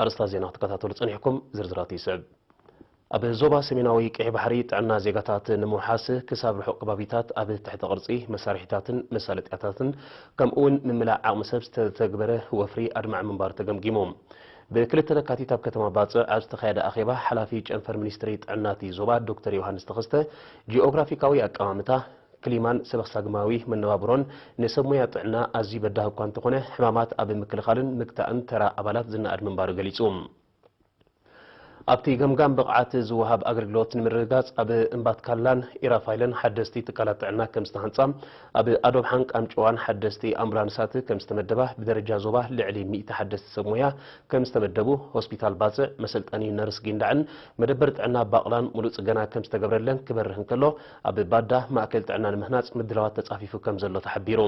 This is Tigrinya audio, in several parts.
ኣርእስታት ዜና ክትከታተሉ ጸኒሕኩም፣ ዝርዝራቱ ይስዕብ። ኣብ ዞባ ሰሜናዊ ቀይሕ ባሕሪ ጥዕና ዜጋታት ንምውሓስ ክሳብ ርሑቕ ከባቢታት ኣብ ትሕተ ቅርጺ መሳርሒታትን መሳለጥያታትን ከምኡ'ውን ምምላእ ዓቕሚ ሰብ ዝተተግበረ ወፍሪ ኣድማዒ ምንባሩ ተገምጊሙ። ብክልተ ለካቲት ኣብ ከተማ ባጽዕ ኣብ ዝተኻየደ ኣኼባ ሓላፊ ጨንፈር ሚኒስትሪ ጥዕና'ቲ ዞባ ዶክተር ዮሃንስ ተኸስተ ጂኦግራፊካዊ ኣቀማምታ ክሊማን ሰበኽሳግማዊ መነባብሮን ንሰብ ሞያ ጥዕና ኣዝዩ በዳሂ እኳ እንተኾነ፣ ሕማማት ኣብ ምክልኻልን ምግታእን ተራ ኣባላት ዝነኣድ ምንባሩ ገሊጹ። ኣብቲ ገምጋም ብቕዓት ዝወሃብ ኣገልግሎት ንምርግጋጽ ኣብ እምባትካላን ኢራፋይለን ሓደስቲ ትካላት ጥዕና ከም ዝተሃንጻ፣ ኣብ ኣዶብሓን ቃንጨዋን ሓደስቲ ኣምቡላንሳት ከም ዝተመደባ፣ ብደረጃ ዞባ ልዕሊ ሚእቲ ሓደስቲ ሰብ ሞያ ከም ዝተመደቡ፣ ሆስፒታል ባጽዕ፣ መሰልጠኒ ነርስ ጊንዳዕን መደበር ጥዕና ባቕላን ምሉእ ጽገና ከም ዝተገብረለን ክበርህ እንከሎ፣ ኣብ ባዳ ማእከል ጥዕና ንምህናጽ ምድላዋት ተጻፊፉ ከምዘሎ ተሓቢሩ።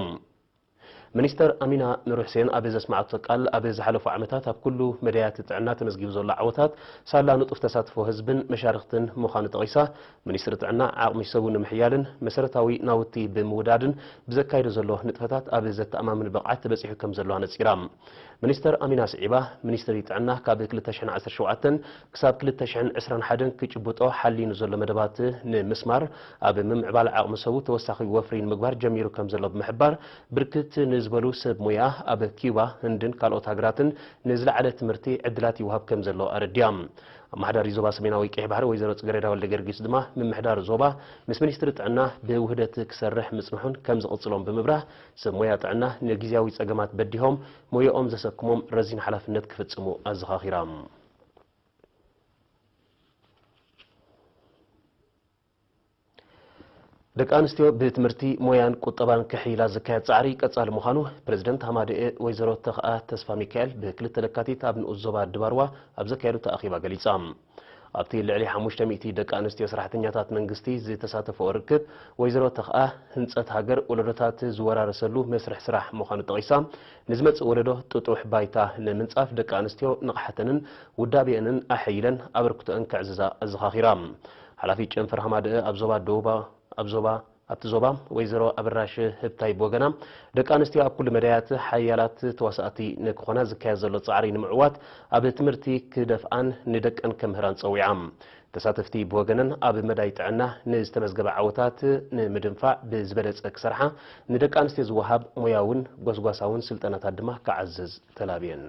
ሚኒስተር ኣሚና ኑርሕሴን ኣብ ዘስመዓቶ ቃል፣ ኣብ ዝሓለፉ ዓመታት ኣብ ኩሉ መዳያት ጥዕና ተመዝጊቡ ዘሎ ዓወታት ሳላ ንጡፍ ተሳትፎ ህዝብን መሻርኽትን ምዃኑ ጠቒሳ፣ ሚኒስትሪ ጥዕና ዓቕሚ ሰቡ ንምሕያልን መሰረታዊ ናውቲ ብምውዳድን ብዘካይዶ ዘሎ ንጥፈታት ኣብ ዘተኣማምን ብቕዓት በጺሑ ከምዘሎ ኣነጺራ። ሚኒስተር ኣሚና ስዒባ፣ ሚኒስትሪ ጥዕና ካብ ክልተ ሽሕን ዓሰርተ ሸውዓተን ክሳብ ክልተ ሽሕን ዕስራን ሓደን ክጭብጦ ሓልዩ ንዘሎ መደባት ንምስማር ኣብ ምምዕባል ዓቕሚ ሰቡ ተወሳኺ ወፍሪ ንምግባር ጀሚሩ ከምዘሎ ብምሕባር፣ ብርክት ንዝበሉ ሰብ ሞያ ኣብ ኪዩባ፣ ህንድን ካልኦት ሃገራትን ንዝለዓለ ትምህርቲ ዕድላት ይወሃብ ከምዘሎ ኣረዲኣ። ኣመሓዳሪ ዞባ ሰሜናዊ ቀይሕ ባሕሪ ወይዘሮ ጽገሬዳ ወልደገርጊስ ድማ ምምሕዳር ዞባ ምስ ሚኒስትሪ ጥዕና ብውህደት ክሰርሕ ምጽንሑን ከምዝቕጽሎን ብምብራህ፣ ሰብ ሞያ ጥዕና ንግዝያዊ ፀገማት በዲሆም ሞያኦም ዘሰክሞም ረዚን ሓላፍነት ክፍፅሙ ኣዘኻኺራ። ደቂ ኣንስትዮ ብትምህርቲ፣ ሞያን ቁጠባን ክሕይላ ዝካየድ ፃዕሪ ቀፃሊ ምዃኑ ፕረዚደንት ሃማደኤ ወይዘሮ ተኽኣ ተስፋሚካኤል ብ ክልተ ለካቲት ኣብ ንኡስ ዞባ ድባርዋ ኣብ ዘካየደቶ ኣኼባ ገሊፃ። ኣብቲ ልዕሊ ሓሙሽተ ሚእቲ ደቂ ኣንስትዮ ሰራሕተኛታት መንግስቲ ዝተሳተፈኦ ርክብ፣ ወይዘሮ ተኽኣ፣ ህንፀት ሃገር ወለዶታት ዝወራረሰሉ መስርሕ ስራሕ ምዃኑ ጠቒሳ፣ ንዝመፅእ ወለዶ ጥጡሕ ባይታ ንምንፃፍ ደቂ ኣንስትዮ ንቕሓተንን ውዳቤአንን ኣሐይለን ኣበርክቶኣን ከዕዝዛ ኣዘኻኺራ። ሓላፊት ጨንፈር ሃማደኤ ኣብ ዞባ ደቡብ ኣብ ዞባ ኣብቲ ዞባ ወይዘሮ ኣበራሽ ህብታይ ብወገና፣ ደቂ ኣንስትዮ ኣብ ኩሉ መዳያት ሓያላት ተዋሳእቲ ንክኾና ዝካየድ ዘሎ ፃዕሪ ንምዕዋት ኣብ ትምህርቲ ክደፍኣን ንደቀን ከምህራን ፀዊዓ። ተሳተፍቲ ብወገነን ኣብ መዳይ ጥዕና ንዝተመዝገበ ዓወታት ንምድንፋዕ ብዝበለፀ ክሰርሓ ንደቂ ኣንስትዮ ዝወሃብ ሞያውን ጎስጓሳውን ስልጠናታት ድማ ክዓዝዝ ተላብየን።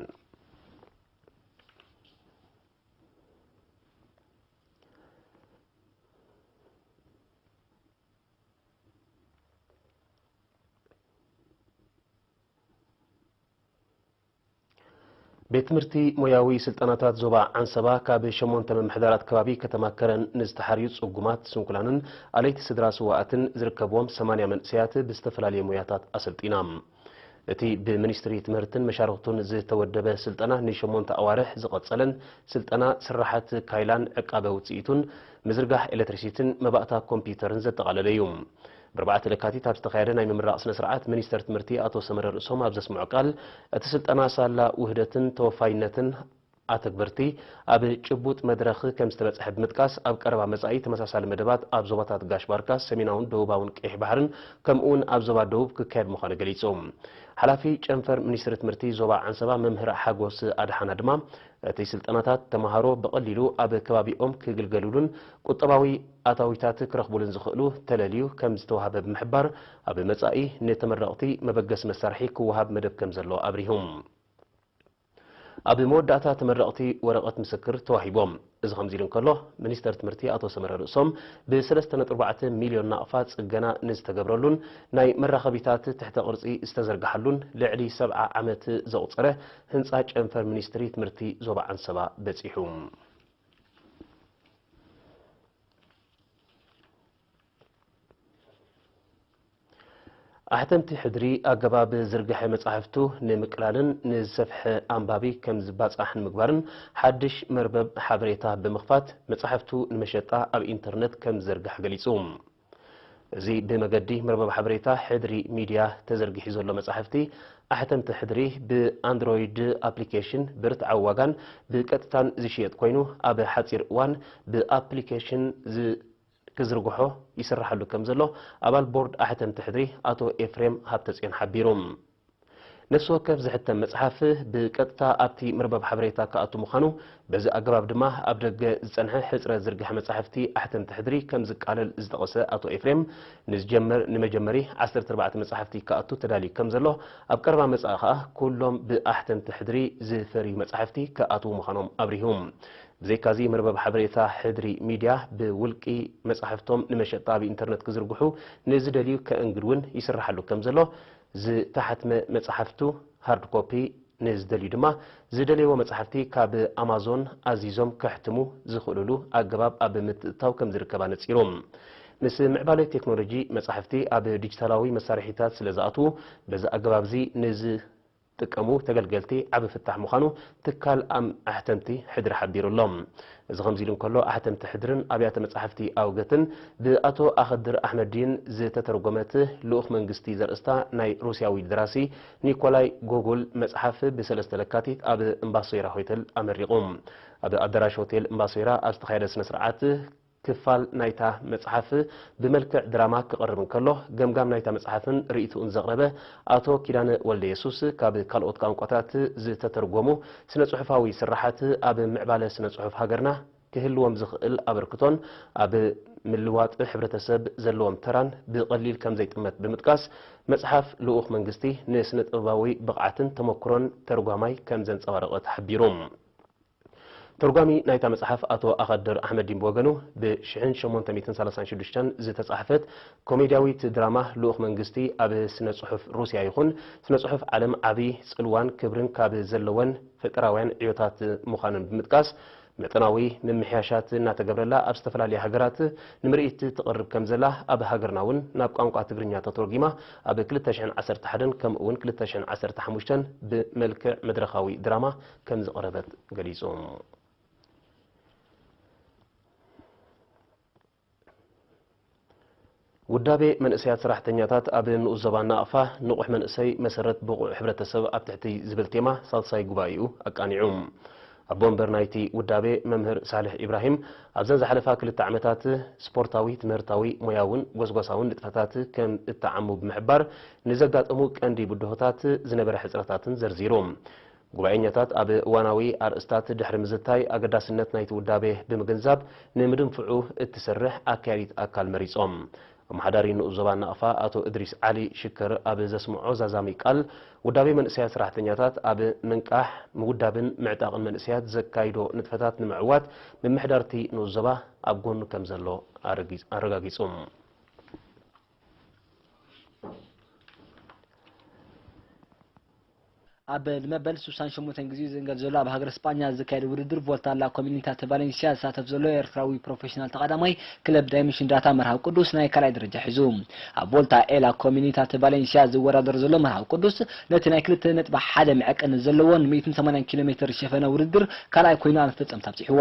ቤት ትምህርቲ ሞያዊ ስልጠናታት ዞባ ዓንሰባ ካብ ሸሞንተ ምምሕዳራት ከባቢ ከተማ ከረን ንዝተሓርዩ ጽጉማት፣ ስንኩላንን ኣለይቲ ስድራ ስዋኣትን ዝርከብዎም ሰማንያ መንእሰያት ብዝተፈላለየ ሞያታት ኣሰልጢና። እቲ ብምኒስትሪ ትምህርትን መሻርኽቱን ዝተወደበ ስልጠና ንሸሞንተ ኣዋርሕ ዝቐጸለን ስልጠና ስራሓት ካይላን ዕቃበ ውጽኢቱን፣ ምዝርጋሕ ኤለትሪሲቲን መባእታ ኮምፒዩተርን ዘጠቓለለ እዩ። ብኣርባዕተ ለካቲት ኣብ ዝተኻየደ ናይ ምምራቕ ስነ ስርዓት ሚኒስተር ትምህርቲ ኣቶ ሰመረ ርእሶም ኣብ ዘስምዖ ቃል፣ እቲ ስልጠና ሳላ ውህደትን ተወፋይነትን፣ ኣተግበርቲ ኣብ ጭቡጥ መድረኽ ከምዝተበፀሐ ብምጥቃስ፣ ኣብ ቀረባ መፃኢ ተመሳሳሊ መደባት ኣብ ዞባታት ጋሽ ባርካ፣ ሰሜናውን ደቡባውን ቀይሕ ባሕርን ከምኡ እውን ኣብ ዞባ ደቡብ ክካየድ ምዃኑ ገሊፁ። ሓላፊ ጨንፈር ሚኒስትሪ ትምህርቲ ዞባ ዓንሰባ መምህር ሓጎስ ኣድሓና ድማ እቲ ስልጠናታት ተምሃሮ ብቐሊሉ ኣብ ከባቢኦም ክግልገልሉን ቁጠባዊ ኣታዊታት ክረኽቡሉን ዝኽእሉ ተለልዩ ከምዝተውሃበ ብምሕባር ኣብ መፃኢ ንተመረቕቲ መበገሲ መሳርሒ ክወሃብ መደብ ከምዘሎ ኣብሪሁ። ኣብ መወዳእታ ተመረቕቲ ወረቐት ምስክር ተዋሂቦም። እዚ ከምዚ ኢሉ እንከሎ፣ ሚኒስተር ትምህርቲ ኣቶ ሰመረ ርእሶም፣ ብሰለስተ ነጥቢ ኣርባዕተ ሚልዮን ናቕፋ ጽገና ንዝተገብረሉን ናይ መራኸቢታት ትሕተ ቅርጺ ዝተዘርግሓሉን ልዕሊ ሰብዓ ዓመት ዘቑጸረ ህንጻ ጨንፈር ሚኒስትሪ ትምህርቲ ዞባ ዓንሰባ በጺሑ። ኣሕተምቲ ሕድሪ ኣገባብ ዝርግሐ መጻሕፍቱ ንምቅላልን ንዝሰፍሐ ኣንባቢ ከም ዝባጻሕ ንምግባርን ሓድሽ መርበብ ሓበሬታ ብምኽፋት መጻሕፍቱ ንመሸጣ ኣብ ኢንተርነት ከም ዝዘርግሐ ገሊጹ። እዚ ብመገዲ መርበብ ሓበሬታ ሕድሪ ሚድያ ተዘርጊሑ ዘሎ መጻሕፍቲ ኣሕተምቲ ሕድሪ ብኣንድሮይድ ኣፕሊኬሽን ብርትዓዊ ዋጋን ብቀጥታን ዝሽየጥ ኮይኑ ኣብ ሓጺር እዋን ብኣፕሊኬሽን ክዝርግሖ ይስራሓሉ ከም ዘሎ ኣባል ቦርድ ኣሕተምቲ ሕድሪ ኣቶ ኤፍሬም ሃብተጽዮን ሓቢሩ። ነፍሲ ወከፍ ዝሕተም መጽሓፍ ብቀጥታ ኣብቲ መርበብ ሓበሬታ ክኣቱ ምዃኑ፣ በዚ ኣገባብ ድማ ኣብ ደገ ዝጸንሐ ሕጽረት ዝርግሐ መጻሕፍቲ ኣሕተምቲ ሕድሪ ከም ዝቃለል ዝጠቐሰ ኣቶ ኤፍሬም፣ ንዝጀመር ንመጀመሪ ዓሰርተ ኣርባዕተ መጻሕፍቲ ክኣቱ ተዳልዩ ከም ዘሎ፣ ኣብ ቀረባ መጻኢ ከኣ ኩሎም ብኣሕተምቲ ሕድሪ ዝፈርዩ መጻሕፍቲ ክኣትዉ ምዃኖም ኣብሪሁ። ብዘይካ'ዚ መርበብ ሓበሬታ ሕድሪ ሚድያ ብውልቂ መጻሕፍቶም ንመሸጣ ኣብ ኢንተርነት ክዝርግሑ ንዝደልዩ ከእንግድ'ውን ይስርሓሉ ከምዘሎ፣ ዝተሓትመ መጻሕፍቱ፣ ሃርድ ኮፒ፣ ንዝደልዩ ድማ ዝደለይዎ መጻሕፍቲ ካብ ኣማዞን ኣዚዞም ከሕትሙ ዝኽእሉሉ ኣገባብ ኣብ ምትእትታው ከምዝርከብ ኣነጺሩ። ምስ ምዕባለ ቴክኖሎጂ መጻሕፍቲ ኣብ ዲጂታላዊ መሳርሒታት ስለዝኣትዉ በዚ ኣገባብ'ዚ ንዝ ጥቀሙ ተገልገልቲ ዓቢ ፍታሕ ምዃኑ ትካል ኣሕተምቲ ሕድሪ ሓቢሩ ኣሎ። እዚ ከምዚ ኢሉ እንከሎ ኣሕተምቲ ሕድርን ኣብያተ መጻሕፍቲ ኣውገትን ብኣቶ ኣኸድር ኣሕመዲን ዝተተርጎመት ልኡኽ መንግስቲ ዘርእስታ ናይ ሩስያዊ ደራሲ ኒኮላይ ጎጉል መጽሓፍ ብሰለስተ ለካቲት ኣብ እምባሶይራ ሆተል ኣመሪቑ። ኣብ ኣዳራሽ ሆቴል እምባሶይራ ኣብ ዝተኻየደ ስነ ስርዓት ክፋል ናይታ መጽሓፍ ብመልክዕ ድራማ ክቐርብ እንከሎ፣ ገምጋም ናይታ መጽሓፍን ርእይትኡን ዘቕረበ ኣቶ ኪዳነ ወልደየሱስ፣ ካብ ካልኦት ቋንቋታት ዝተተርጎሙ ስነ-ጽሑፋዊ ስርሓት ኣብ ምዕባለ ስነ-ጽሑፍ ሃገርና ክህልዎም ዝኽእል ኣበርክቶን ኣብ ምልዋጥ ሕብረተሰብ ዘለዎም ተራን ብቐሊል ከም ዘይጥመት ብምጥቃስ፣ መጽሓፍ ልኡኽ መንግስቲ ንስነ-ጥበባዊ ብቕዓትን ተመኩሮን ተርጓማይ ከም ዘንጸባረቐት ሓቢሩ። ተርጓሚ ናይታ መጽሓፍ ኣቶ ኣኸድር ኣሕመዲን ብወገኑ፣ ብ ሽሕን ሸሞንተ ሚእትን ሰላሳን ሽዱሽተን ዝተጻሕፈት ኮሜድያዊት ድራማ ልኡኽ መንግስቲ ኣብ ስነ-ጽሑፍ ሩስያ ይኹን ስነ-ጽሑፍ ዓለም ዓቢ ጽልዋን ክብርን ካብ ዘለወን ፈጠራውያን ዕዮታት ምዃነን ብምጥቃስ፣ መጠናዊ ምምሕያሻት እናተገብረላ ኣብ ዝተፈላለያ ሃገራት ንምርኢት ትቐርብ ከም ዘላ፣ ኣብ ሃገርና እውን ናብ ቋንቋ ትግርኛ ተተርጒማ ኣብ ክልተ ሽሕን ዓሰርተ ሓደን ከምኡ'ውን ክልተ ሽሕን ዓሰርተ ሓሙሽተን ብመልክዕ መድረኻዊ ድራማ ከምዝቕረበት ገሊጹ። ውዳቤ መንእሰያት ሰራሕተኛታት ኣብ ንኡስ ዞባ ናቕፋ፣ ንቑሕ መንእሰይ መሰረት ብቑዕ ሕብረተሰብ ኣብ ትሕቲ ዝብል ቴማ ሳልሳይ ጉባኤኡ ኣቃኒዑ። ኣቦ ወንበር ናይቲ ውዳቤ መምህር ሳልሕ ኢብራሂም፣ ኣብዘን ዝሓለፋ ክልተ ዓመታት ስፖርታዊ፣ ትምህርታዊ፣ ሞያውን ጎስጓሳውን ንጥፈታት ከም እተዓሙ ብምሕባር፣ ንዘጋጠሙ ቀንዲ ብድሆታት፣ ዝነበረ ሕጽረታትን ዘርዚሩ። ጉባኤኛታት ኣብ እዋናዊ ኣርእስታት ድሕሪ ምዝታይ ኣገዳስነት ናይቲ ውዳቤ ብምግንዛብ ንምድንፍዑ እትሰርሕ ኣካያዲት ኣካል መሪጾም። ኣመሓዳሪ ንኡስ ዞባ ናቕፋ ኣቶ እድሪስ ዓሊ ሽከር ኣብ ዘስምዖ ዛዛሚ ቃል፣ ውዳቤ መንእሰያት ሰራሕተኛታት ኣብ ምንቃሕ፣ ምውዳብን ምዕጣቕን መንእሰያት ዘካይዶ ንጥፈታት ንምዕዋት ምምሕዳር'ቲ ንኡስ ዞባ ኣብ ጎኑ ከምዘሎ ኣረጋጊጹ። ኣብ ንመበል ስሳን ሸሞንተን ግዜኡ ዝእንገድ ዘሎ ኣብ ሃገረ ስጳኛ ዝካየድ ውድድር ቮልታ ላ ኮሚኒታተ ቫለንስያ ዝሳተፍ ዘሎ ኤርትራዊ ፕሮፈሽናል ተቐዳማይ ክለብ ዳይመንሽን ዳታ መርሃዊ ቅዱስ ናይ ካልኣይ ደረጃ ሒዙ ኣብ ቮልታ ኤላ ኮሚኒታተ ቫለንስያ ዝወዳደር ዘሎ መርሃዊ ቅዱስ ነቲ ናይ ክልተ ነጥቢ ሓደ መዐቀኒ ዘለዎን ሚእትን ሰማንያን ኪሎ ሜትር ሸፈነ ውድድር ካልኣይ ኮይኑ ኣብ መፈጸምታ ኣብጺሕዎ